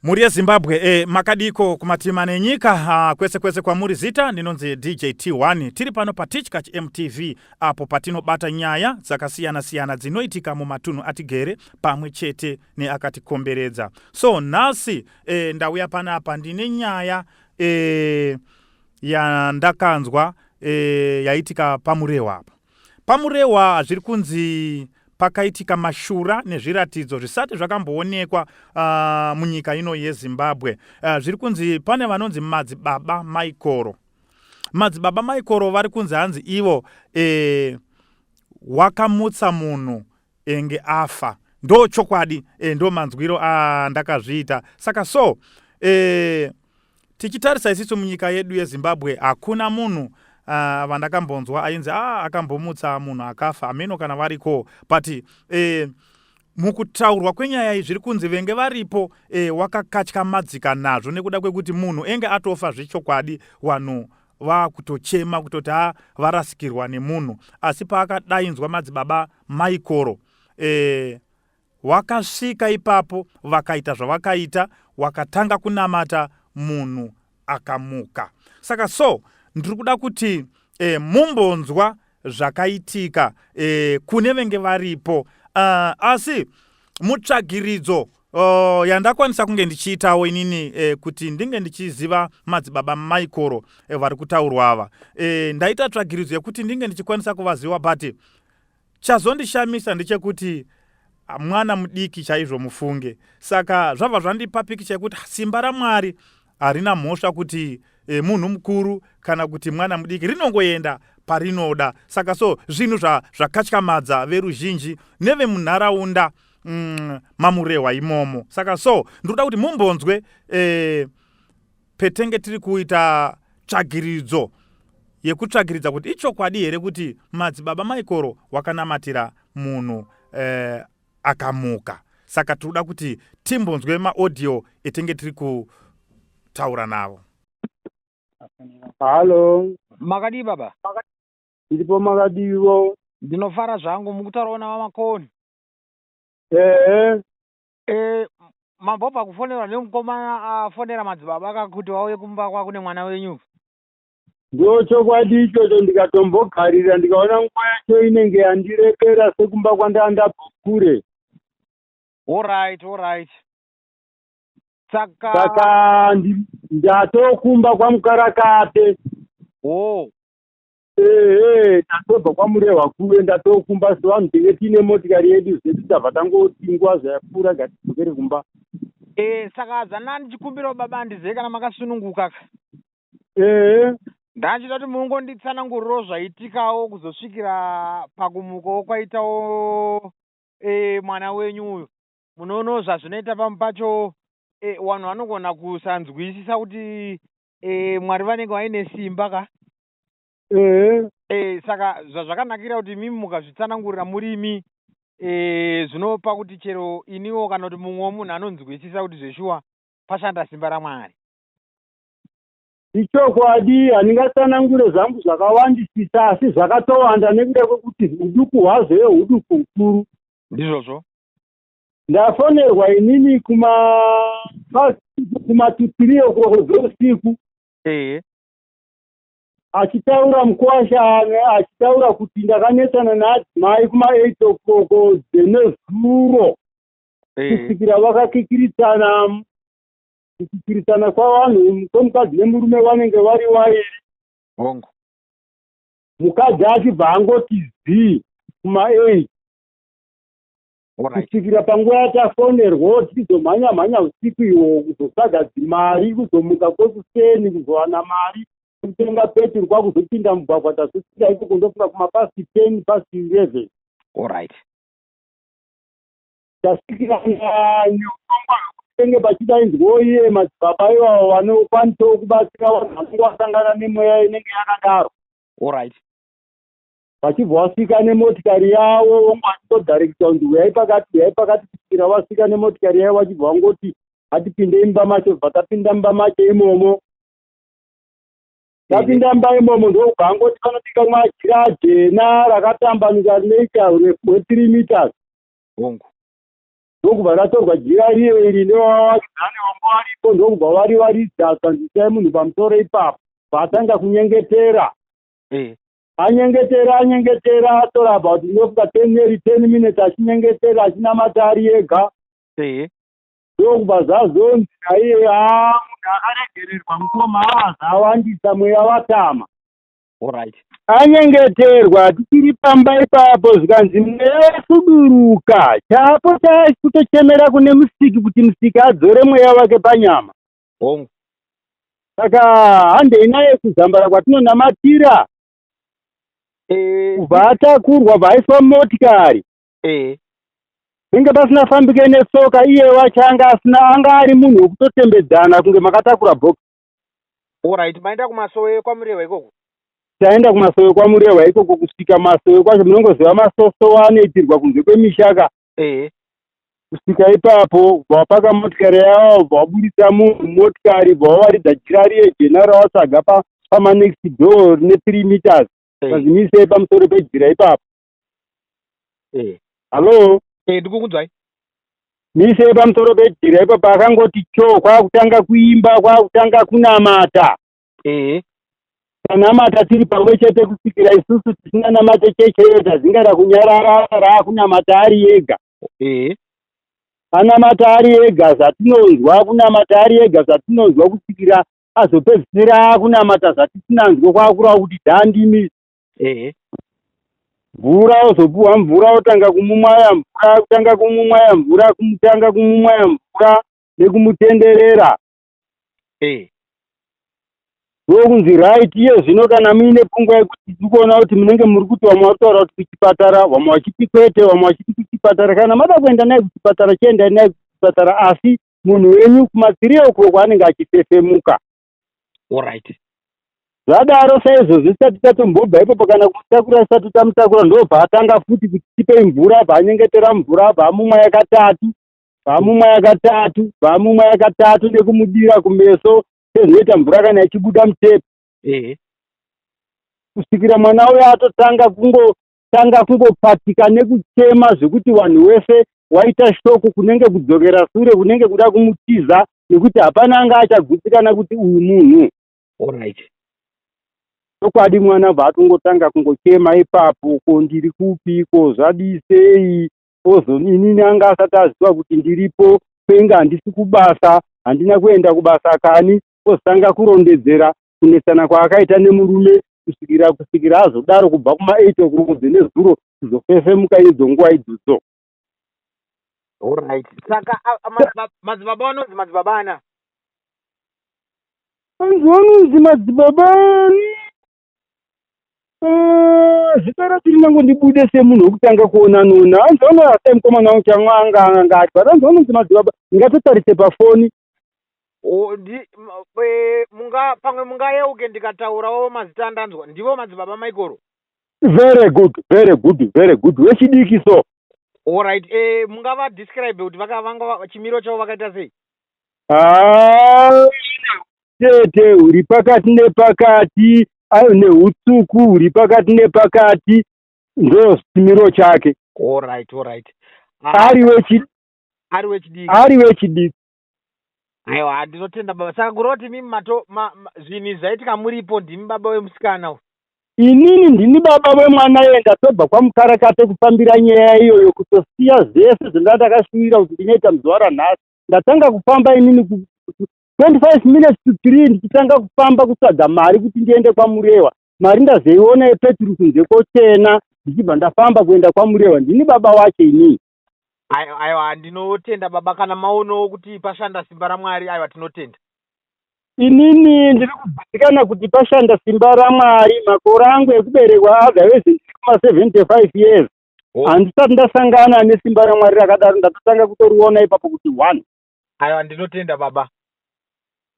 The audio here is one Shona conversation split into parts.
Mhuri yeZimbabwe e eh, makadiko kumatima nenyika ah, kwese kwese kwamuri zita ndinonzi DJ T1 tiri pano paTichkach MTV apo patinobata nyaya dzakasiyana siyana dzinoitika mumatunhu atigere pamwe chete neakatikomberedza so nhasi eh, ndauya panapa ndine nyaya eh, yandakanzwa eh, yaitika pamurewa apa PaMurehwa zviri kunzi pakaitika mashura nezviratidzo zvisati zvakamboonekwa uh, munyika ino yezimbabwe uh, zviri kunzi pane vanonzi madzibaba maikoro madzibaba maikoro vari kunzi hanzi ivo e, wakamutsa munhu enge afa ndo chokwadi e, ndo manzwiro andakazviita saka so e, tichitarisa isisu munyika yedu yezimbabwe hakuna munhu uh, vandakambonzwa ainzi ah, akambomutsa munhu akafa hameno kana variko but eh, mukutaurwa kwenyaya iyi zviri kunzi venge varipo eh, wakakatya madzika nazvo nekuda kwekuti munhu enge atofa zvechokwadi wanhu vakutochema kutoti ha ah, varasikirwa nemunhu asi paakadainzwa madzibaba maikoro eh, Wakasvika ipapo vakaita zvavakaita wakatanga kunamata munhu akamuka saka so ndiri kuda kuti e, mumbonzwa zvakaitika e, kune venge varipo uh, asi mutsvagiridzo uh, yandakwanisa kunge ndichiitawo inini e, kuti ndinge ndichiziva madzibaba maikoro e, vari kutaurwa ava e, ndaita tsvagiridzo yekuti ndinge ndichikwanisa kuvaziva but Chazondishamisa ndechekuti mwana mudiki chaizvo mufunge saka zvabva zvandipa pikicha yekuti simba raMwari harina mhosva kuti e, munhu mukuru kana kuti mwana mudiki rinongoenda parinoda saka so zvinhu zva, zvakatyamadza veruzhinji nevemunharaunda mm, mamurehwa imomo saka so ndinoda kuti mumbonzwe e, petenge tiri kuita tsvagiridzo yekutsvagiridza kuti ichokwadi here kuti madzibaba maikoro wakanamatira munhu eh, akamuka saka tinoda kuti timbonzwe maaudio etenge tiri kutaura navo halo makadii baba ndiripo makadiivo ndinofara zvangu mukutaurawo navamakoni ehe Eh, mambo pakufonerwa nemukomana afonera madzibaba akakuti vauye kumba kwako nemwana wenyu ndo chokwadi ichocho ndikatombogarira ndikaona nguva yacho inenge yandirebera sekumba kwandaa ndabvokure orit orit saka saka ndatokumba kwamukarakape o oh. ehe tatobva kwamurehwa kuve ndatokumba sevanhu tinge tiine motikari yedu zvedu tabva tangotingwa zvayapfuura gatidzokere kumba e saka adzana ndichikumbirawo baba andizive kana makasununguka ka ehe ndachida kuti mungonditsanangurirawo zvaitikawo kuzosvikira pakumukawo kwaitawo e, mwana wenyu uyu munoonawo zvazvinoita pamwe pacho e, vanhu vanogona kusanzwisisa kuti e, mwari vanenge vaine simba ka ehe e, saka zvazvakanakira kuti imimi mukazvitsanangurira murimi e, zvinopa kuti chero iniwo kana kuti mumwe wemunhu anonzwisisa kuti zveshuwa pashanda simba ramwari ichokwadi handingatsanangure zvangu zvakawandisisa asi zvakatowanda nekuda kwekuti uduku hwazvo ye uduku ukuru ndizvozvo ndafonerwa inini kuma kumatutiriyo kuroko dzeusiku ehe achitaura mukwasha achitaura kuti ndakanetsana naadzimai kuma eight o'clock dzenezuro eh. kusvikira vakakikiritsana kukikiritsana kwavanhu kwemukadzi nemurume vanenge vari wairi hongu mukadzi achibva angoti zii kuma eight kusvikira panguva yatafonerwo tichizomhanya mhanya usiku iwo kuzotsvaga dzimari kuzomuka kwekuseni kuzowana mari kutenga peturu kwakuzopinda mugwagwa tazosvika ikoko ndosvika kumapasti ten past eleven orit tasvikira nyongomba vekutenge pachidainzwo iye madzibaba ivavo vanokwanisawo kubatsira vanhu vanenge vasangana nemweya inenge yakadaro orit vachibva wasvika nemotikari yavo vonge vachitodharekita kunzi uyai pakati uyai pakati kusvikira wasvika nemotikari yavo vachibva vangoti hatipinde imba macho bva tapinda mumba macho imomo tapinda mumba imomo ndokubva angoti panobika majira ajena rakatambanuka rineita urefu hwethree meters hongu ndokubva ratorwa jira riyo iri nevavaridzane vanga varipo ndokubva vari varidza zvanzisai munhu pamusoro ipapo vaatanga kunyengetera eh. anyengetera anyengetera atora about ndofuka ten nearly ten minutes achinyengetera achinamata ari ega ndokubva zvazonzi naiye aa ah, munhu akaregererwa mukoma aazawandisa ah, mweya watama orit anyengeterwa tichiri pamba ipapo zvikanzi mweya wasuduruka chaapo chakutochemera kune musiki kuti musiki adzore mweya wake panyama hongu saka handei naye kuzambara kwatinonamatira eh. kubva atakurwa bva aiswa motikari eh. penge pasina fambike nesoka iye wacho anga asina anga ari munhu wekutotembedzana kunge makatakura box orit maenda kumasowe kwamurehwa ikoko taenda kumasowe kwamurehwa ikoko kusvika masowe kwacho munongoziva masoso waanoitirwa kunze kwemishaka ehe kusvika ipapo ubva wapaka motikari yavo ubva wabudisa munhu motikari ubva wawaridza jira riye jena rawatsvaga pamanext pa door rine three meters pazimisei pamusoro pejira ipapo hallo ndikukunzwai misei pamusoro pejira ipapo akangoti cho kwakutanga kuimba kwakutanga kunamata ehe tanamata tiri pamwe chete kusvikira isusu tisinganamate cheche iyo tazingara kunyarara raakunamata ari ega ehe anamata ari ega zvatinonzwa kunamata ari ega zvatinonzwa kusvikira azopedzisira akunamata zvatisinanzwe kwaakurawo kuti dhandimi ehe mvura ozopuhwa mvura otanga kumumwaya mvura kutanga kumumwaya mvura kumutanga kumumwaya mvura nekumutenderera ndokunzi right iye zvino kana muine pfungwa yekuti tiri kuona kuti munenge muri kuti vamwe vari kutaura kuti kuchipatara vamwe vachiti kwete vamwe vachiti kuchipatara kana mada kuenda naye kuchipatara chiendai naye kuchipatara asi munhu wenyu kumatsirio uko kwaanenge achifefemuka orit zvadaro saizvozvi tisati tatombobva ipopo kana kumutakura tisati tamutakura ndobva atanga futi kuti tipei mvura abva anyengetera mvura abva amumwa yakatatu pamumwe yakatatu pamumwe yakatatu nekumudira kumeso sezvinoita mvura kana ichibuda mutepi ehe kusvikira mwana uyo atotanga kungotanga kungopatika nekuchema zvekuti vanhu wese waita shoku kunenge kudzokera sure kunenge kuda kumutiza nekuti hapana anga achagutsikana kuti uyu munhu orit chokwadi mwana bva atongotanga kungochema ipapo ko ndiri kupiko zvadisei ozo inini anga asati aziva kuti ndiripo kwenge handisi kubasa handina kuenda kubasa kani ozotanga kurondedzera kunetsana kwaakaita nemurume kusvikira kusvikira azodaro kubva kuma 8 o'clock dzenezuro kuzofefemuka idzo nguva idzodzo Alright. Saka madzibaba vanonzi madzibaba ana. Vanzi vanonzi madzibaba ani. Ah, zvipera tiri nangu ndibude semunhu wekutanga kuona nona hanzi vanoasa mukomana wangu chamwanga anga ati but hanzi vanonzi madzibaba ngatotarise pafoni O, ndi, m, e, munga, pamwe mungayeuke ndikataurawo mazita andanzwa ndivo madzibaba maikoro very good very good very good wechidiki so olright e, mungava describe kuti vaka- vanga va- chimiro chavo vakaita sei Ah, utete huri pakati nepakati ayo neutsvuku huri pakati nepakati ndo chimiro chake alright alright ah, ari wechidiki ari wechidiki ari wechidiki aiwa ndinotenda baba saka kureva kuti mimi mato ma, ma, zvinhu izvi zvaitika muripo ndimi baba wemusikana inini ndini baba vemwana iye ndatobva kwamukarakate kufambira nyaya iyoyo kutosiya zvese zvendandakashuvira kuti ndinoita muzuva ranhasi ndatanga kufamba inini 25 minutes to 3 ndichitanga kufamba kutsvaga mari kuti ndiende kwamurewa mari ndazoiona yepeturu kunze kochena ndichibva ndafamba kuenda kwamurewa ndini baba wacho inii aiwa ndinotenda baba kana maonawo kuti pashanda simba ramwari aiwa tinotenda inini ndiri kuzivikana kuti pashanda simba ramwari makore angu ekuberekwa otherwise ndiri kuma 75 years oh. handisati ndasangana nesimba ramwari rakadaro ndatotanga kutoriona ipapo kuti one Aiwa ndinotenda baba.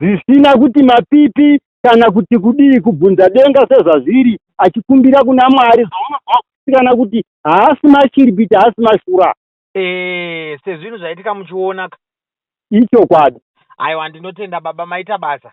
Zvisina kuti mapipi kana kuti kudii kubvunza denga sezvazviri achikumbira kuna Mwari zvaunobva kusikana kuti haasi mashiripiti haasi mashura. Eh, sezvinhu zvaitika muchiona ka. Ichokwadi. Aiwa ndinotenda baba maita basa.